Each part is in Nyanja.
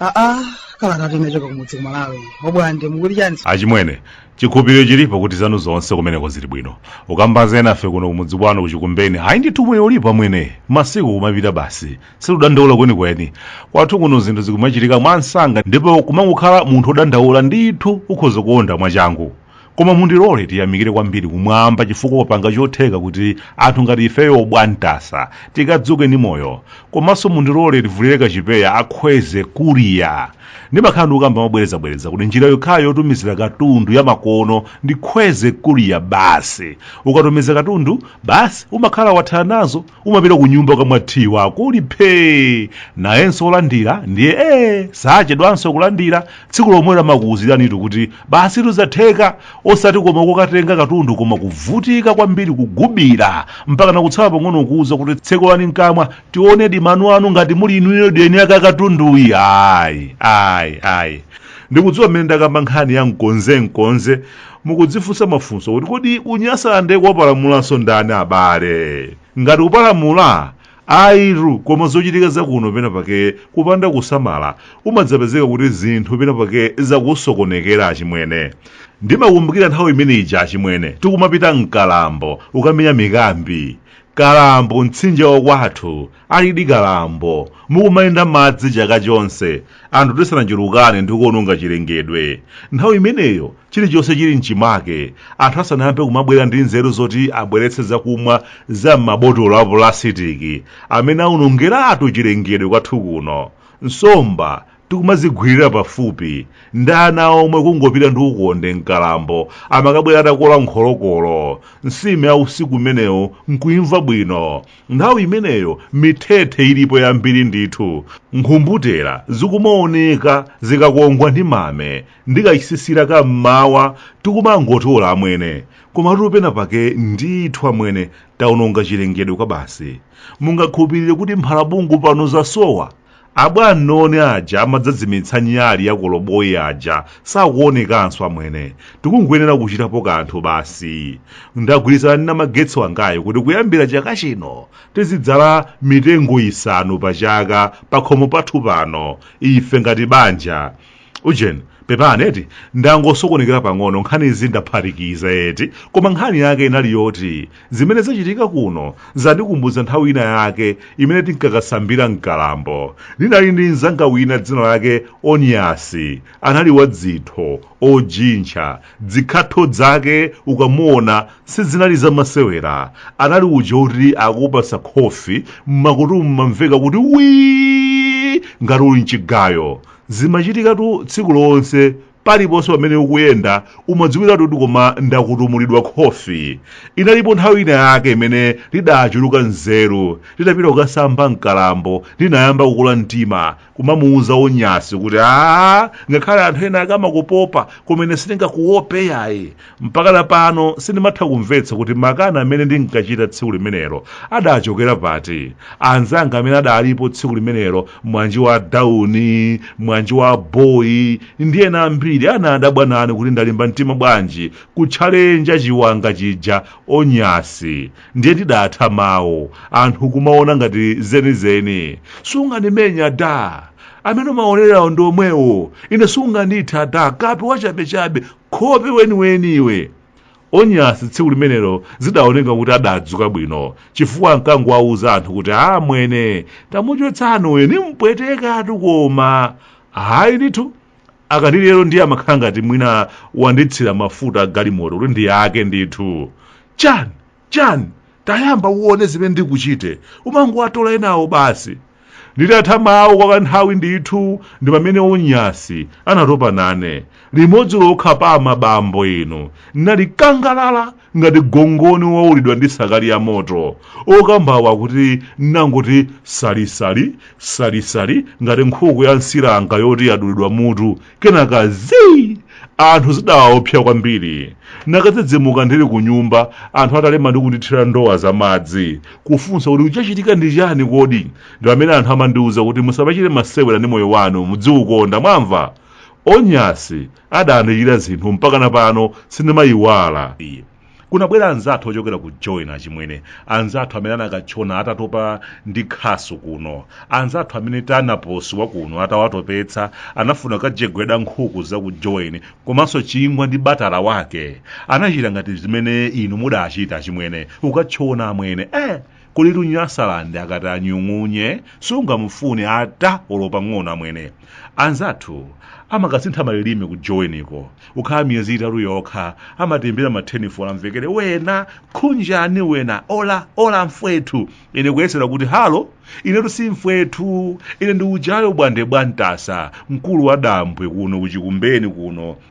aa kalatatu inachoka kumudzi kumalawi obwande mukuti chani achimwene chikhulupiriro chilipo kuti zanu zonse kumeneko zili bwino ukamba za enafe kuno kumudzi kwanu kuchikumbeni ayi ndithu moyo ulipo amwene masiku kumapita basi sikudandaula kwenikweni kwathu kuno zinthu zikumachitika mwansanga ndipo kumangokhala munthu odandaula ndithu ukhoza kuonda mwachangu koma mundilole tiyamikire kwambiri kumwamba chifukwa kwapanga chotheka kuti anthu ngati ifeyo obwantasa tikadzuke ndi moyo komanso mundilole tivulire kachipeya a kwezy courier ndimakhala ndikukamba mobwerezabwereza kuti njira yokhayo yotumizira katundu yamakono ndi kwezy courier basi ukatumiza katundu basi umakhala wathana nazo umapita ku nyumba ukamwa tiyi wako uli phee nayenso wolandira ndiye ee sachedwanso kulandira tsiku lomwelo amakuwuziranitu kuti basitu zatheka osati koma kukatenga katundu koma kuvutika kwambiri kugubira mpaka nakutsala pang'ono kuwuza kuti tsekulani mkamwa tionedi mano anu ngati muli inuyodi eni ake a katunduyi ayi ayi ayi ndikudziwa mmene ndakamba nkhani ya mkonze mkonze mukudzifunsa mafunso kuti kodi kunyasalande kwapalamulanso ndani abale ngati kupalamula ayitu koma zochitika zakuno pena pake kupanda kusamala umadzapezeka kuti zinthu pena pake zakusokonekera achimwene ndimakumbukira nthawi imene ija achimwene tikumapita mkalambo ukamenya mikambi kalambo mtsinje wakwathu alidi kalambo mukumayenda madzi chaka chonse anthu tisanachulukane ndi kuononga chilengedwe nthawi imeneyo Chilichonse chili m'chimake. Anthu asanayambe kumabwera ndi nzeru zoti abweretse zakumwa za m'mabotolo a pulasitiki amene awonongeratu chilengedwe kwathu kuno, nsomba tikumazigwirira pafupi, ndi ana omwe kungopita ndi ukonde mkalambo amakabwera atakola nkholokolo, nsima ya usiku umenewo n'kuimva bwino. Nthawi imeneyo mithethe ilipo yambiri ndithu. Nkhumbutera zikumaoneka zikakongwa ndi mame ndi kachisisira ka mmawa tikumangotola amwene komatu pena pake ndithu amwene taononga chilengedwe kwabasi mungakhulupirire kuti mphalabungu pano zasowa abwamnoni aja amadzazimitsa nyali ya koloboyi aja sakuonekanso amwene tikungoyenera kuchitapo kanthu basi ndagwirizana ndi namagetsi wangayo kuti kuyambira chaka chino tizidzala mitengo isanu pa chaka pakhomo pathu pano ife ngati banja ujeni pepani eti ndangosokonekera pang'ono nkhanizi ndaphatikiza eti koma nkhani yake inali yoti zimene zachitika kuno zandikumbutsa nthawi ina yake imene tinkakasambira mkalambo ndinali ndi mzanga wina dzina lake onyasi anali wadzitho ojintcha dzikhatho dzake ukamaona sizinali zamasewera anali uja oti akupasa khofi m'makutu mumamveka kuti wii ngati uli mchigayo zimachitikatu tsiku lonse paliponse pamene ukuyenda umadziwiratu kuti koma ndakutumulidwa khofi inalipo nthawi ina yake imene ndidachuluka nzeru ndidapita kukasamba mkalambo ndinayamba kukula mtima kumamuuza onyasi kuti a ngakhale anthu ena akamakuopa koma ine sindingakuope yayi mpaka pano sindimatha kumvetsa kuti makani amene ndinkachita tsiku limenelo adachokera pati anzanga amene adalipo tsiku limenelo mwanji wa dauni mwanji wa boyi ndi ena ambiri anadabwa nane kuti ndalimba mtima bwanji kutchalenja chiwanga chija onyasi ndiye ndidatha mawu anthu kumaona ngati zenizeni sungandimenye da amene umaonerawo ndi omwewo ine sungandithe da kape wachabechabe khope weniweni iwe onyasi tsiku limenelo zidaoneka kuti adadzuka bwino chifukwa ankangowauza anthu kuti amwene tamuchotsani uyu nimpwetekatu koma ayi ndithu akati lero ndiye amakhala ngati mwina wanditsira mafuta a galimoto kuti ndiyake ndithu chani Chani? Tayamba uone zimene ndikuchite. Umangowatola enawo basi. Nditatha mawu kwa kanthawi ndithu ndi pamene Onyasi anatopa nane. Limodzi lokha phaa abambo inu. Ndinali thapsa gangalala ngati gongoni wowulidwa ndi sakali ya moto. Okambawo akuti ndinangoti salisali, salisali ngati nkhuku ya msiranga yoti yadulidwa mutu. kenaka zii anthu zidawaopsa kwambiri nakadzidzimuka ndili ku nyumba anthu atalema ndi kundithira ndowa za madzi kufunsa kuti chachitika ndi chani kodi ndi pamene anthu amandiwuza kuti musamachite masewera ndi moyo wanu mudziukonda mwamva onyasi adandichitira zinthu mpaka na pano sindimayiwala kunabwera anzathu ochokera ku joni achimwene anzathu amene anakatchona atatopa ndi khasu kuno anzathu amene tanaposi wa kuno atawatopetsa anafuna kukajegweda nkhuku za ku joni komanso chingwa ndi batala wake anachita ngati zimene inu mudachita achimwene kukatchona amwene eh kulitu nyasalande akati anyung'unye sungamufune ata olo pang'ono amwene anzathu amakasintha malilime ku joweniko ukhala miyezi itatu yokha amatembera mathenifolo amvekere wena khunjani wena ola ola mfwethu ine kuyesera kuti halo inetu si mfwethu ine ndi uja obwande bwantasa mkulu wa dambwe kuno kuchikumbeni kuno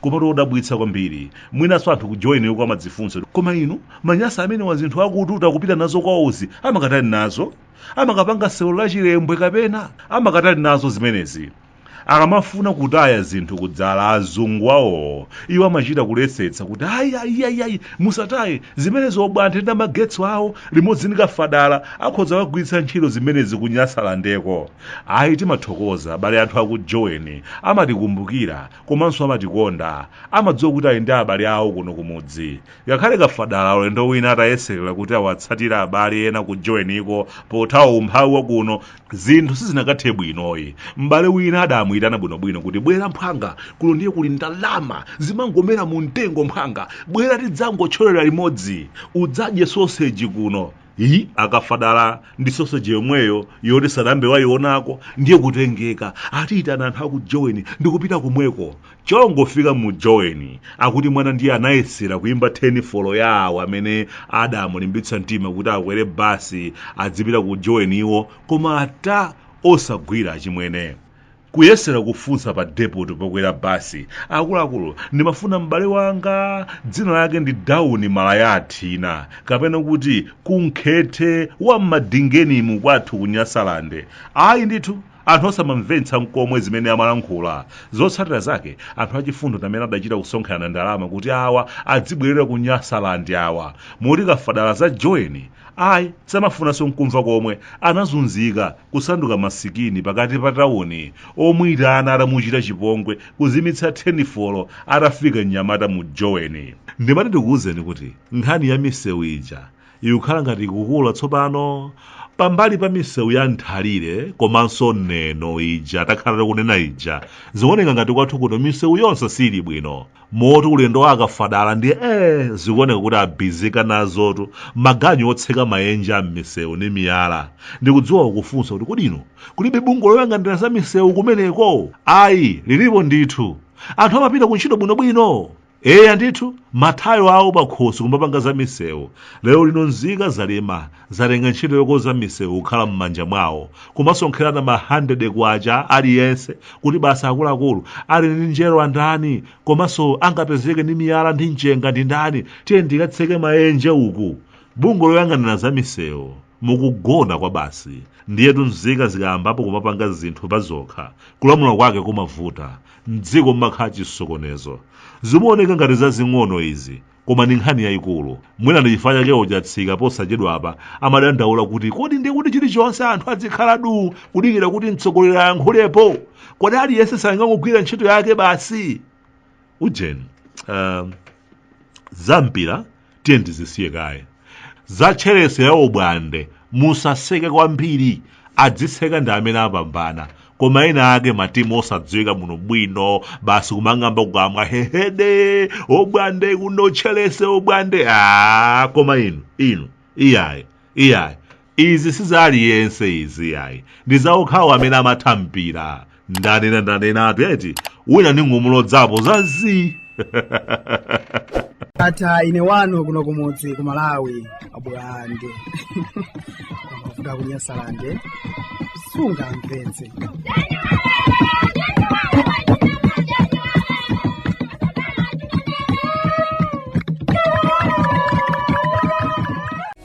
komatu odabwitsa kwambiri mwinanso anthu ku joweniko amadzifunsa koma inu manyasa amenewa zinthu akututa kupita nazo kwawozi amakatani nazo amakapanga sewero la chilembwe kapena amakatani nazo zimenezi akamafuna kutaya zinthu kudzala azungu awowo iwo amachita kuletsetsa kuti ayi ayi ayi ayi musataye zimenezo obwande ndi amagetso awo limodzi ndi kafadala akhoza kagwiritsa ntchito zimenezi kunyasalandeko ayi timathokoza abale anthu akujoweni amatikumbukira komanso amatikonda amadziwa kuti ali ndi abale awo kuno kumudzi ngakhale kafadala ulendo wina atayeserera kuti awatsatire abale ena ku joeniko pothawa umphawi wa kuno zinthu sizinakathe bwinoyi m'bale wina adamuyitana bwinobwino kuti bwera mphwanga kuno ndiye kuli ndalama zimangomera mu mtengo mphwanga bwera tidzangotcholera limodzi udzadye soseji kuno iyi akafadala ndi soseji yomweyo yoti sadambe wayionako ndiye kutengeka atiyitana anthu aku joweni ndikupita kumweko chongofika mu joweni akuti mwana ndiye anayesera kuyimba thenifolo ya awo amene adamulimbitsa mtima kuti akwere basi adzipita ku joweni iwo koma ata osagwira achimwene Kuyesera kufunsa pa depoti pokwera basi, Akuluakulu, ndimafuna m'bale wanga, dzina lake ndi Dauni Malaya Athina, kapena kuti Kunkhethe wa m'Madingenimu kwathu ku Nyasalande. Ayi ndithu, anthu osamamvetsa n'komwe zimene amalankhula. Zotsatira zake, anthu achifundo ndi amene adachita kusonkherana ndalama kuti awa adzibwerera ku Nyasalande awa. Moti kafadala za Joweni, ayi, samafunanso n'kumva komwe. Anazunzika. kusanduka masikini pakati pa tauni omuitana atamuchita chipongwe kuzimitsa thenifolo atafika mnyamata mu joweni ndimati ndikuwuzeni kuti nkhani ya misewu ija ikukhala ngati ikukula tsopano pambali pa misewu ya nthalire komanso neno ija takhala tikunena ija zikuoneka ngati kwathu kuno misewu yonse siili bwino moti ulendo wa akafadala ndiye ee zikuoneka kuti abizika nazotu maganyu otseka mayenje a m'misewu ndi miyala ndikudziwa ukufunsa kuti kodi inu kulibe bungwe loyang'anira za misewu kumeneko ayi lilipo ndithu anthu amapita ku ntchito bwinobwino eya ndithu mathayo awo pakhosi kumapanga za misewu lero lino nzika zalema zatenga ntchito yokonza misewu kukhala m'manja mwawo kumasonkherana ma 100 kwacha aliyense kuti basa akuluakulu ali ndi njero andani komanso angapezeke ndi miyala ndi mchenga ndi ndani tiyeni tikatseke maenje uku bungwe loyang'anira za misewu mukugona kwa basi ndiyetu nzika zikayambapo kumapanga zinthu pa zokha kulamula kwake kumavuta mdziko mmakhala chisokonezo zimaoneka ngati zazing'ono izi koma ndi nkhani yayikulu mwina ndi chifukwa chake achatsika posachedwapa amadandaula kuti kodi ndi kuti chilichonse anthu adzikhala du kudikira kuti mtsogoleri ayankhulepo kodi aliyense sangangogwira ntchito yake basi ujeni um, zampira tiye ndizisiye kaye za tcherese ya obwande musaseke kwambiri adziseka ndi amene apambana koma ena ake matimu osadziwika bwinobwino basi kumang'amba kukamwa hehede obwande kuno tcherese obwande a koma inu inu iyayi iyayi Izi si za aliyense izi iyayi. Ndi za okhawo amene amatha mpira. Ndanena ndanenatu eti. Wina ndingomulodzapo za zii. ata ine wanu kuno kumudzi ku malawi abwande kumavuta ku nyasalande sungamvetse